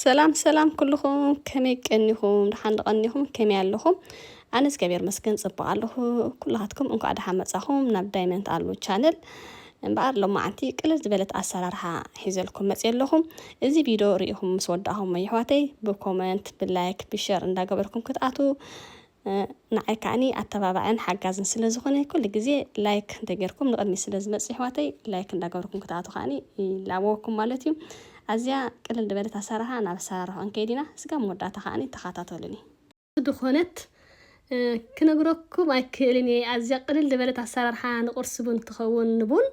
ሰላም ሰላም ኩልኹም ከመይ ቀኒኹም ድሓን ድቐኒኹም ከመይ ኣለኹም ኣነ እግዚኣብሔር መስገን ፅቡቅ ኣለኹ ኩላትኩም እንኳዕ ድሓን መፃኹም ናብ ዳይመንት ኣሉ ቻነል እምበኣር ሎማዓንቲ ቅልል ዝበለት ኣሰራርሓ ሒዘልኩም መፅ ኣለኹም እዚ ቪድዮ ርኢኹም ምስ ወዳእኹም ኣሕዋተይ ብኮመንት ብላይክ ብሸር እንዳገበርኩም ክትኣትዉ ንዓይ ከኣኒ ኣተባባዕን ሓጋዝን ስለ ዝኾነ ኩሉ ግዜ ላይክ እንተ ጌርኩም ንቕድሚት ስለ ዝመጽእ የሕዋተይ ላይክ እንዳ ገበርኩም ክትኣቱ ከኣኒ ይላበወኩም ማለት እዩ። ኣዝያ ቅልል ድበለት ኣሰራርሓ ናብ ኣሰራርሖ ክንከይድ ኢና ስጋብ መወዳእታ ከኣኒ ተኻታተሉኒ። ዝኾነት ክነግረኩም ኣይክእልን እየ ኣዝያ ቅልል ድበለት ኣሰራርሓ ንቁርሲ ቡን ትኸውን ንቡን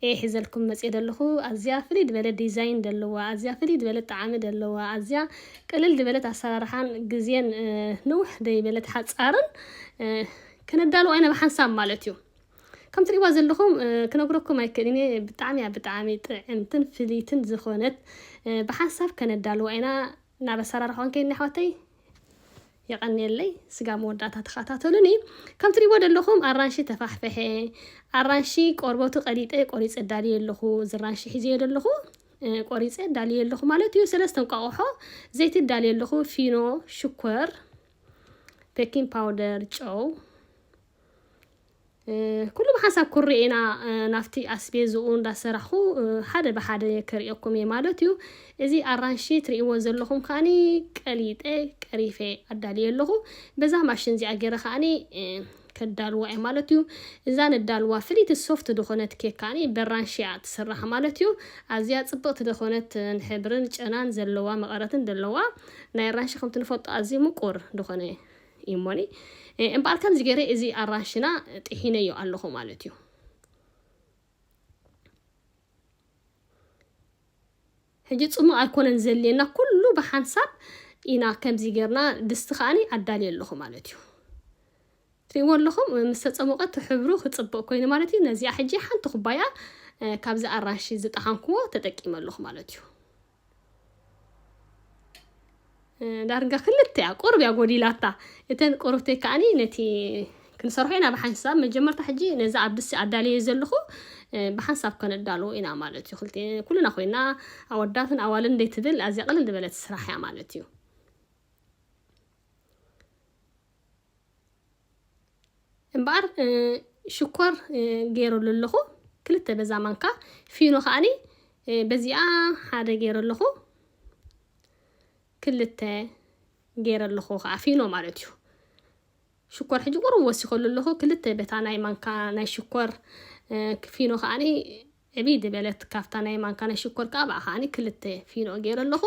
እየ ሒዘልኩም መጽየ ደለኹ ኣዝያ ፍልይ ድበለ ዲዛይን ደለዋ ኣዝያ ፍልይ ድበለት ጣዓሚ ደለዋ ኣዝያ ቅልል ድበለት ኣሳራርሓን ግዜን ንውሕ ደይበለት ሓጻርን ከነዳልዋ ኢና ብሓንሳብ ማለት እዩ ከም ትሪእዋ ዘለኹም ክነግረኩም ኣይክእልን እየ ብጣዕሚ እያ ብጣዕሚ ጥዕምትን ፍልይትን ዝኾነት ብሓንሳብ ከነዳልዋ ኢና ናብ ኣሰራርሓዋን ከይድና ኣሕዋተይ የቐንየለይ ስጋ መወዳእታ ተኸታተሉኒ ከም ትሪእዎ ዘለኹም ኣራንሺ ተፋሕፈሐ ኣራንሺ ቆርበቱ ቀሊጠ ቆሪፀ ዳልየ ኣለኹ ዝራንሺ ሒዘዮ ዘለኹ ቆሪፀ ዳልየ ኣለኹ ማለት እዩ ሰለስተ እንቋቑሖ ዘይቲ ዳልየ ኣለኹ ፊኖ ሽኮር ቤኪንግ ፓውደር ጨው ኩሉ ብሓንሳብ ኩርዒና ናብቲ ኣስቤዝኡ እንዳሰራሕኹ ሓደ ብሓደ ክርእየኩም እየ ማለት እዩ። እዚ ኣራንሺ ትርእይዎ ዘለኹም ከኣኒ ቀሊጠ ቀሪፈ ኣዳልየ ኣለኹ። በዛ ማሽን እዚኣ ገይረ ከኣኒ ከዳልዋ እየ ማለት እዩ። እዛ ነዳልዋ ፍልይቲ ሶፍት ዝኾነት ኬክ ከኣኒ በራንሺ እያ ትስራሕ ማለት እዩ። ኣዝያ ጽብቕቲ ዝኾነት ሕብርን ጨናን ዘለዋ መቐረትን ደለዋ። ናይ ኣራንሺ ከምቲ ንፈልጦ ኣዝዩ ምቁር ዝኾነ እዩሞኒ እምበኣር ከምዚ ገይረ እዚ ኣራንሽና ጥሒነዮ ኣለኹ ማለት እዩ ሕጂ ፅሙቕ ኣይኮነን ዘልየና ኩሉ ብሓንሳብ ኢና ከምዚ ገርና ድስቲ ከዓኒ ኣዳልየ ኣለኹ ማለት እዩ ትሪእዎ ኣለኹም ምስ ተፀሞቐ ሕብሩ ክፅብቕ ኮይኑ ማለት እዩ ነዚኣ ሕጂ ሓንቲ ኩባያ ካብዚ ኣራንሺ ዝጠሓንክዎ ተጠቂመ ኣለኹ ማለት እዩ ዳርጋ ክልተ እያ ቁርብ እያ ጎዲላታ እተን ቆርብተይ ከዓኒ ነቲ ክንሰርሖ ኢና ብሓንሳብ መጀመርታ ሕጂ ነዚ ኣብ ድሲ ኣዳለየ ዘለኹ ብሓንሳብ ከነዳልዎ ኢና ማለት እዩ ክልተ ኩልና ኮይና ኣወዳትን ኣዋልን እንዴት ትብል ኣዝያ ቅልል ዝበለት ስራሕ እያ ማለት እዩ እምበኣር ሽኮር ገይረሉ ኣለኹ ክልተ በዛ ማንካ ፊኖ ከዓኒ በዚኣ ሓደ ገይረ ኣለኹ ክልተ ገይረ ኣለኹ ከዓ ፊኖ ማለት እዩ ሽኮር ሕጂ ቁሩብ ወሲኸሉ ኣለኹ ክልተ በታ ናይ ማንካ ናይ ሽኮር ፊኖ ከዓኒ ዕብይ ዝበለት ካብታ ናይ ማንካ ናይ ሽኮር ከኣ ብኣ ከኣ ክልተ ፊኖ ገይረ ኣለኹ።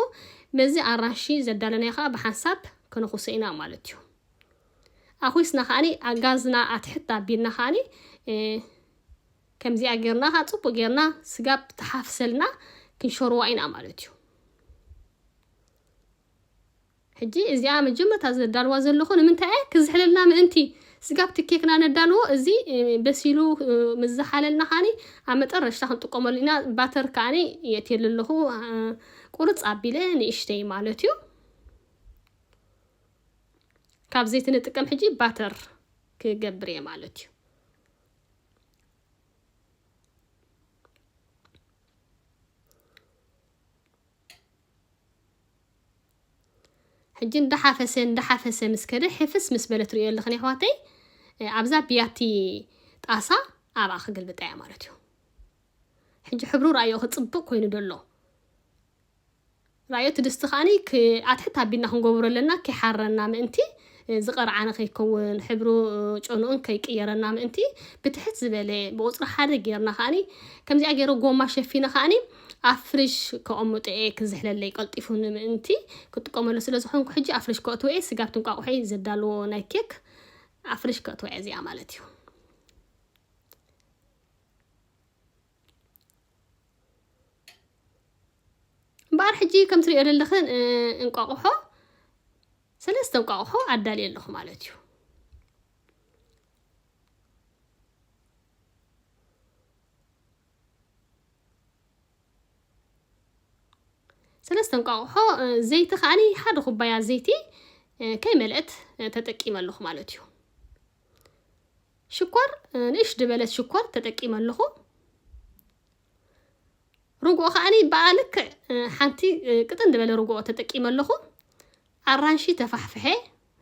ምስዚ ኣራንሺ ዘዳለናዮ ከኣ ብሓንሳብ ክንኹሶ ኢና ማለት እዩ። ኣኹስና ከኣ ኣብ ጋዝና ኣትሕት ኣቢልና ከኣ ከምዚኣ ገርና ከኣ ጽቡቅ ገርና ስጋ ተሓፍሰልና ክንሸርዋ ኢና ማለት እዩ። ሕጂ እዚኣ መጀመርታ ዘዳልዋ ዘለኹ ንምንታይ እየ ክዝሕለልና ምእንቲ ስጋብ እቲ ኬክና ነዳልዎ እዚ በሲሉ ምስ ዝሓለልና ከኣ ኣብ መጠረሽታ ክንጥቀመሉ ኢና ባተር ከኣ የእትየሉ ኣለኹ ቁርጽ ኣቢለ ንእሽተይ ማለት እዩ ካብ ዘይቲ ንጥቀም ሕጂ ባተር ክገብር እየ ማለት እዩ ሕጂ እንዳሓፈሰ እንዳሓፈሰ ምስ ከደ ሕፍስ ምስ በለ ትርእዮ ኣለኽን ኣሕዋተይ ኣብዛ ብያቲ ጣሳ ኣብኣ ክግልብጣ እያ ማለት እዩ ሕጂ ሕብሩ ራእዮ ክፅብቅ ኮይኑ ደሎ ራእዮ እቲ ድስቲ ከዓኒ ኣትሕት ኣቢልና ክንገብሮ ኣለና ከይሓረና ምእንቲ ዝቐርዓነ ከይከውን ሕብሩ ጨንኡን ከይቅየረና ምእንቲ ብትሕት ዝበለ ብቁጽሪ ሓደ ጌርና ከኣ ከምዚኣ ጌረ ጎማ ሸፊነ ከኣ ኣብ ፍሪሽ ከቐምጦ እየ ክዝሕለለይ ቀልጢፉ ንምእንቲ ክጥቀመሉ ስለ ዝኾንኩ ሕጂ ኣብ ፍሪሽ ከእትዎ እየ ስጋ ኣብቲ እንቋቑሖይ ዘዳልዎ ናይ ኬክ ኣብ ፍሪሽ ከእትዋ እየ እዚኣ ማለት እዩ። እምበኣር ሕጂ ከም ትሪኦ ዘለኽን እንቋቑሖ ሰለስተ እንቋቑሖ ኣዳልየ ኣለኹ ማለት እዩ ሰለስተ እንቋቑሖ ዘይቲ ከዓኒ ሓደ ኩባያ ዘይቲ ከይመልአት ተጠቂመ ኣለኹ ማለት እዩ ሽኮር ንእሽ ድበለት ሽኮር ተጠቂመ ኣለኹ ርግኦ ከዓኒ ብኣ ልክዕ ሓንቲ ቅጥን ድበለ ርግኦ ተጠቂመ ኣለኹ ኣራንሺ ተፋሕፍሐ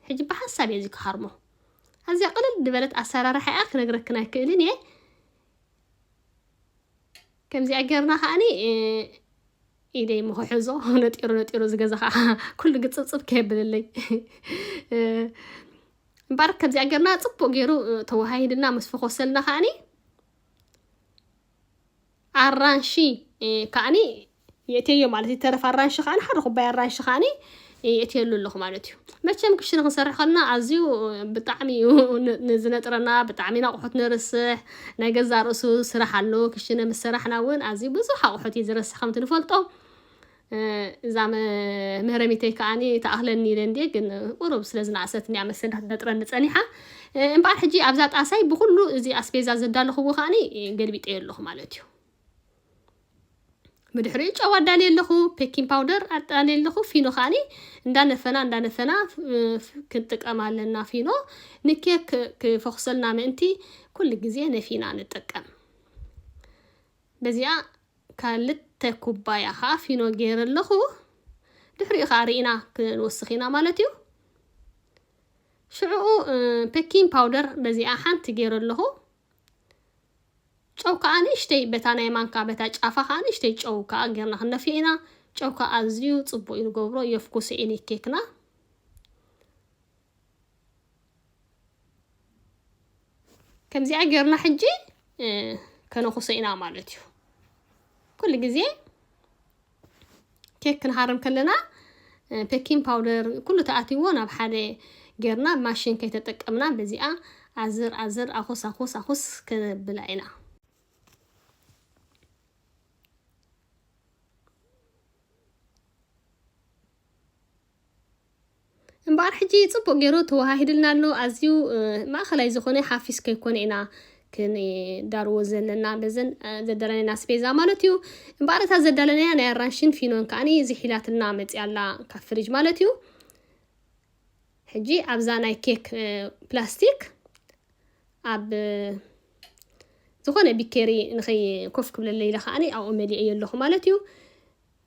ሕጂ ብሓንሳብ እየ እዚ ክሃርሞ ኣዝያ ቅልል ድበለት ኣሰራርሓ እያ ክነግረክን ኣይክእልን እየ ከምዚኣ ጌርና ከዓኒ ኢደይ ምክሕዞ ነጢሩ ነጢሩ ዝገዛ ከዓ ኩሉ ግፅብፅብ ከየብለለይ እምበኣር ከምዚኣ ጌርና ጽቡቕ ጌሩ ተወሃሂድና ምስ ፈኾሰልና ከኣኒ ኣራንሺ ከኣኒ የእትየዮ ማለት እዩ ተረፍ ኣራንሺ ከኣኒ ሓደ ኩባያ ኣራንሺ ከኣኒ የእትየሉ ኣለኹ ማለት እዩ መቸም ክሽነ ክንሰርሕ ከለና ኣዝዩ ብጣዕሚ እዩ ዝነጥረና ብጣዕሚ ናቑሑት ንርስሕ ናይ ገዛ ርእሱ ስራሕ ኣሎ ክሽነ ምስ ሰራሕና እውን ኣዝዩ ብዙሕ ኣቑሑት እዩ ዝረስሕ ከምቲ ንፈልጦ እዛ መህረሚተይ ከኣኒ ትኣኽለኒ ኢለ እንድየ ግን ቁሩብ ስለ ዝነኣሰትኒ እያ መሰል ክትነጥረኒ ጸኒሓ እምበኣር ሕጂ ኣብዛ ጣሳይ ብኩሉ እዚ ኣስቤዛ ዘዳለኽዎ ከኣኒ ገልቢጠዮ ኣለኹ ማለት እዩ ብድሕሪኡ ጨው ኣዳልየ ኣለኹ ፔኪን ፓውደር ኣዳልየ ኣለኹ ፊኖ ከዓኒ እንዳነፈና እንዳነፈና ክንጥቀም ኣለና ፊኖ ንኬክ ክፈኹሰልና ምእንቲ ኩሉ ግዜ ነፊና ንጥቀም በዚኣ ካልተ ኩባያ ከኣ ፊኖ ገይረ ኣለኹ። ድሕሪኡ ከኣ ርኢና ክንወስኽ ኢና ማለት እዩ። ሽዕኡ ፔኪንግ ፓውደር በዚኣ ሓንቲ ገይረ ኣለኹ። ጨው ከኣ ንእሽተይ በታ ናይ ማንካ በታ ጫፋ ከኣ ንእሽተይ ጨው ከኣ ጌርና ክንደፍዮ ኢና። ጨው ከኣ ኣዝዩ ጽቡቅ እዩ ንገብሮ የፍኩስ ኢኒ ኬክና። ከምዚኣ ጌርና ሕጂ ከነኹሶ ኢና ማለት እዩ ኩሉ ግዜ ኬክ ክንሃርም ከለና ፔኪን ፓውደር ኩሉ ተኣትዎ ናብ ሓደ ጌርና ማሽን ከይተጠቀምና በዚኣ ኣዝር ኣዝር ኣኹስ ኣኹስ ኣኹስ ከነብላ ኢና እምበኣር ሕጂ ጽቡቕ ገይሩ ተወሃሂድልና ኣሎ። ኣዝዩ ማእኸላይ ዝኾነ ሓፊስ ከይኮነ ኢና ክንዳርዎ ዘለና በዘን ዘዳለናየን ኣስቤዛ ማለት እዩ። እምበኣር እታ ዘዳለናያ ናይ ኣራንሽን ፊኖን ከዓኒ ዝሒላትና መጽያ ኣላ ካብ ፍሪጅ ማለት እዩ። ሕጂ ኣብዛ ናይ ኬክ ፕላስቲክ ኣብ ዝኾነ ቢኬሪ ንኸይ ኮፍ ክብለለይ ኢለ ከዓኒ ኣብኡ መሊኤዮ ኣለኹ ማለት እዩ።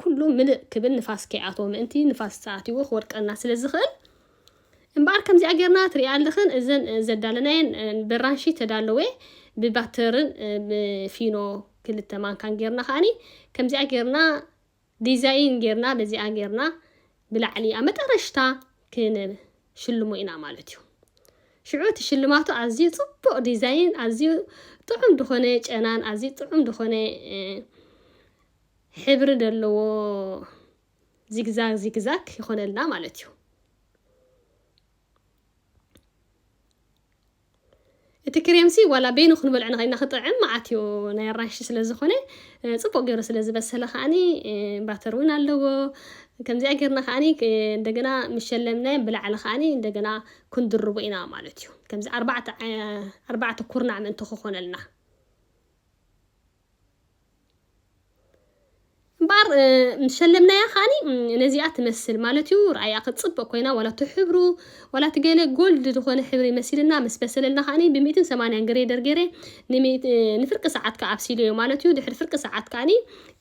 ኩሉ ምልእ ክብል ንፋስ ከይኣትዎ ምእንቲ ንፋስ ተኣትይዎ ክወድቀና ስለ ዝኽእል እምበኣር ከምዚኣ ጌርና ትርእያ ኣለኽን እዘን ዘዳለናየን በራንሺ ተዳለወ ብባተርን ብፊኖ ክልተ ማንካን ጌርና ከኣኒ ከምዚኣ ጌርና ዲዛይን ጌርና በዚኣ ጌርና ብላዕሊ ኣብ መጠረሽታ ክንሽልሞ ኢና ማለት እዩ ሽዑ እቲ ሽልማቱ ኣዝዩ ጽቡቕ ዲዛይን ኣዝዩ ጥዑም ዝኾነ ጨናን ኣዝዩ ጥዑም ዝኾነ ሕብሪ ደለዎ ዚግዛግ ዚግዛግ ይኾነልና ማለት እዩ። እቲ ክሬምሲ ዋላ በይኑ ክንበልዕ ንኸይና ክጥዕም መዓት እዩ ናይ ኣራንሺ ስለ ዝኾነ ፅቡቅ ገይሩ ስለ ዝበሰለ ከዓኒ ባተር እውን ኣለዎ ከምዚኣ ጌርና ከዓኒ እንደገና ምሸለምናዮም ብላዕሊ ከዓኒ እንደገና ክንድርቦ ኢና ማለት እዩ ከምዚ ኣርባዕተ ኩርናዕ ምእንቲ ክኾነልና እምበኣር ምስ ሸለምናያ ከዓኒ ነዚኣ ትመስል ማለት እዩ ርኣያ ክትፅብቕ ኮይና ዋላ እቲ ሕብሩ ዋላ እቲ ገለ ጎልድ ዝኾነ ሕብሪ መሲልና ምስ በሰለልና ከዓኒ ብሚእትን ሰማንያን ግሬደር ገይረ ንፍርቂ ሰዓት ከዓ ኣብሲለዮ ማለት እዩ ድሕሪ ፍርቂ ሰዓት ከዓኒ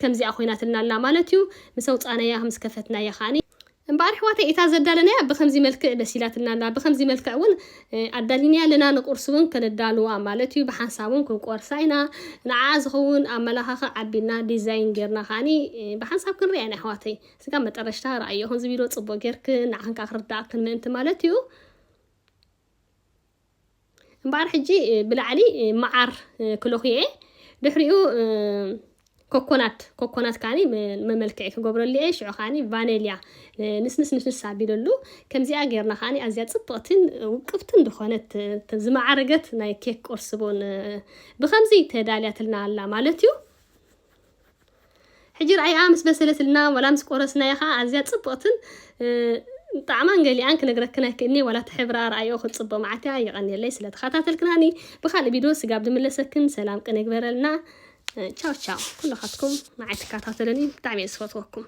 ከምዚኣ ኮይናትልና ኣላ ማለት እዩ ምስ ኣውፃእናያ ምስ ከፈትናያ ከዓኒ እምበኣር ኣሕዋተይ እታ ዘዳለናያ ብኸምዚ መልክዕ በሲላትልና ኣላ፣ ብኸምዚ መልክዕ እውን ኣዳሊናያ ኣለና፣ ንቝርሲ እውን ከነዳልዋ ማለት እዩ፣ ብሓንሳብ እውን ክንቈርሳ ኢና፣ ንዓኣ ዝኸውን ኣብ መላኻኽዕ ኣቢልና፣ ዲዛይን ጌርና ከኣ ብሓንሳብ ክንርእያ ኢና፣ ኣሕዋተይ ስጋብ መጠረሽታ ርኣይኦ፣ ክንዚ ቪድዮ ጽቡቕ ጌርክን ንዓኽን ከኣ ክርድኣክን ምእንቲ ማለት እዩ። እምበኣር ሕጂ ብላዕሊ መዓር ክለኽዮ እየ ድሕሪኡ ኮኮናት ኮኮናት ካኒ መመልክዒ ክገብረሉ እየ ሽዑ ካኒ ቫኔልያ ንስንስ ንስንስ ኣቢለሉ ከምዚኣ ጌርና ካኒ ኣዝያ ጽብቕትን ውቅብትን ዝኾነት ዝመዓረገት ናይ ኬክ ቁርሲ ቡን ብከምዚ ተዳልያትልና ኣላ ማለት እዩ ሕጂ ርኣይኣ ምስ በሰለትልና ዋላ ምስ ቆረስናያ ከኣ ኣዝያ ጽብቕትን ጣዕማን ገሊኣን ክነግረክን ኣይክእልን'የ ዋላ እቲ ሕብራ ርኣይኦ ክትጽብቕ መዓት'ያ የቐንየለይ ስለ ተኸታተልክናኒ ብኻልእ ቪድዮ ስጋብ ድምለሰክን ሰላም ቅነ ይግበረልና ቻው ቻው ኩልኻትኩም ንዓይ ትከታተሉኒ ብጣዕሚ'የ ዝፈትወኩም